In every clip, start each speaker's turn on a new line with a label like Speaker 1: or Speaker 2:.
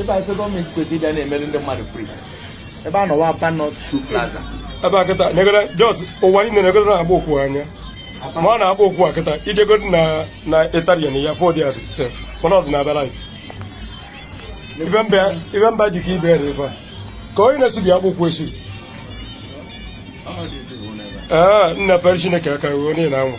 Speaker 1: ebe a ife gọọmenti kwesịrị ịbịa na-emere ndị mmadụ free ebe a nọwa Aba North Shoe Plaza ebe a kịta negara shoes ụwa niile na-egoro na-agba ụkwụ anya ma ọ na-agba ụkwụ a kịta ị chego na na italian ya fọdụ ya sef mana ọ dị na abịara ife mba ji ka ibe ere ife a ka onye na-esu dị akpụkwụ esu ee nna fere chineke aka ruo onye na-anwa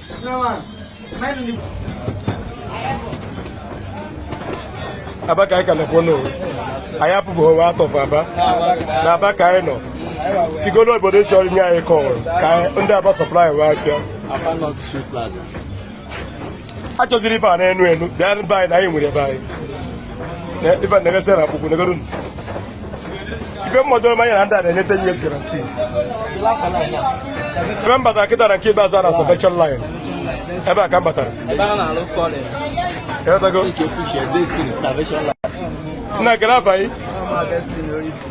Speaker 1: aba ka anyị ka nọkwa n'owu anyị apụbeghị wa atọfụ aba na aba ka anyị nọ sigo n'obodo esi ọrụ nye anyị kọọrọ ka ndị aba supply wee afịa a chọziri ife a na-enu enu bịa be anyị na anyị nwere ebe anyị ife na-eresị na akpụkwụ negodu ife mmadụ ome anya na ndị a na-enye 10 years guarantee ebe m batara kịta na nke ikpeazụ a na salvation line ebe a ka m batara Ị ghọtago? nna gere afa gị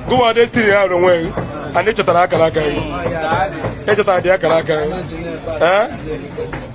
Speaker 1: gụwa destiny ya hụrụ onwe gị ana ị chọtara akara aka gị ị chọtara dị akara aka gị ee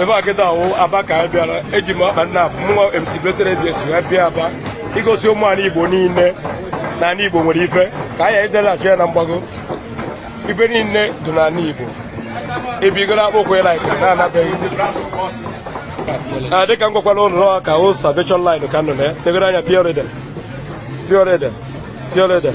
Speaker 1: ebe a kịta wụ aba ka anyị bịara eji m ọkpa nna mụnwa MC Blessed ABS wee bịa aba igosi ụmụ ala Igbo niile na ala Igbo nwere ife ka anyị edelachi ya na mgbago ife niile dị n'ala Igbo ebigoro akpụkwụ ya like na-anabeghị ah, dịka m gwakwara ụnụ ọha ka o salvation line ka nọ na ya tegoro anya pure leather pure leather pure leather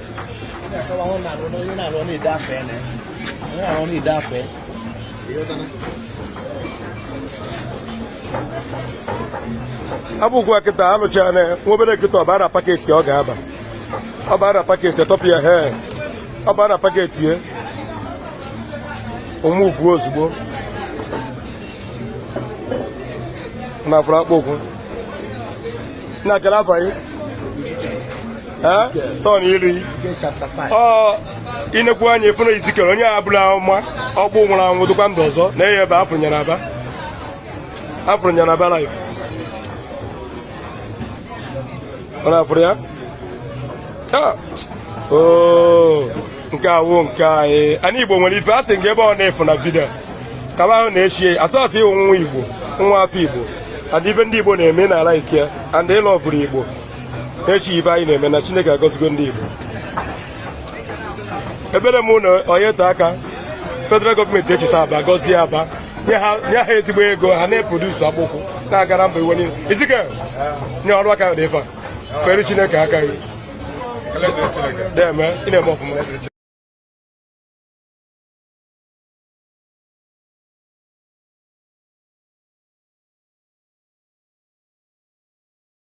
Speaker 1: akpụkwụ a kịta alụchara na nwa ebe a kịta ọ baa na packet ọ ga-aba ọ baa na packet e tọpụ ya he ọ baa na packet ya ọ move ozugbo na afụrụ akpụkwụ na-akara afa tọn iri i nekwa anya ị fụ na Ezikiel onye amụma ọkpụkpụ nwụrụ anwụ dịkwa ndụ ọzọ na eye ebe afụrụ nyere aba afụrụ nyere aba life ọ na-afụrụ ya nke a wụ nke anyị anyị igbo nwere ife a sị nke ebe ọ na-efu na video kaba ahụ na-echi asọsọ ị wụ nwa igbo nwa afọ igbo and ife ndị igbo na-eme n'ala ike and ịlọ ọbụrụ igbo echi ife anyị na-eme na chineke agọzigo ndị igbo ekpere m na-ayọ taa ka federal gọọmenti cheta aba gọzie aba nye ha ezigbo ego ha na-eproduce akpụkwụ na-agara mba ụwa niile izike nye ọrụ aka dị ife a fere chineke aka gị na-eme ị na-eme ọfụma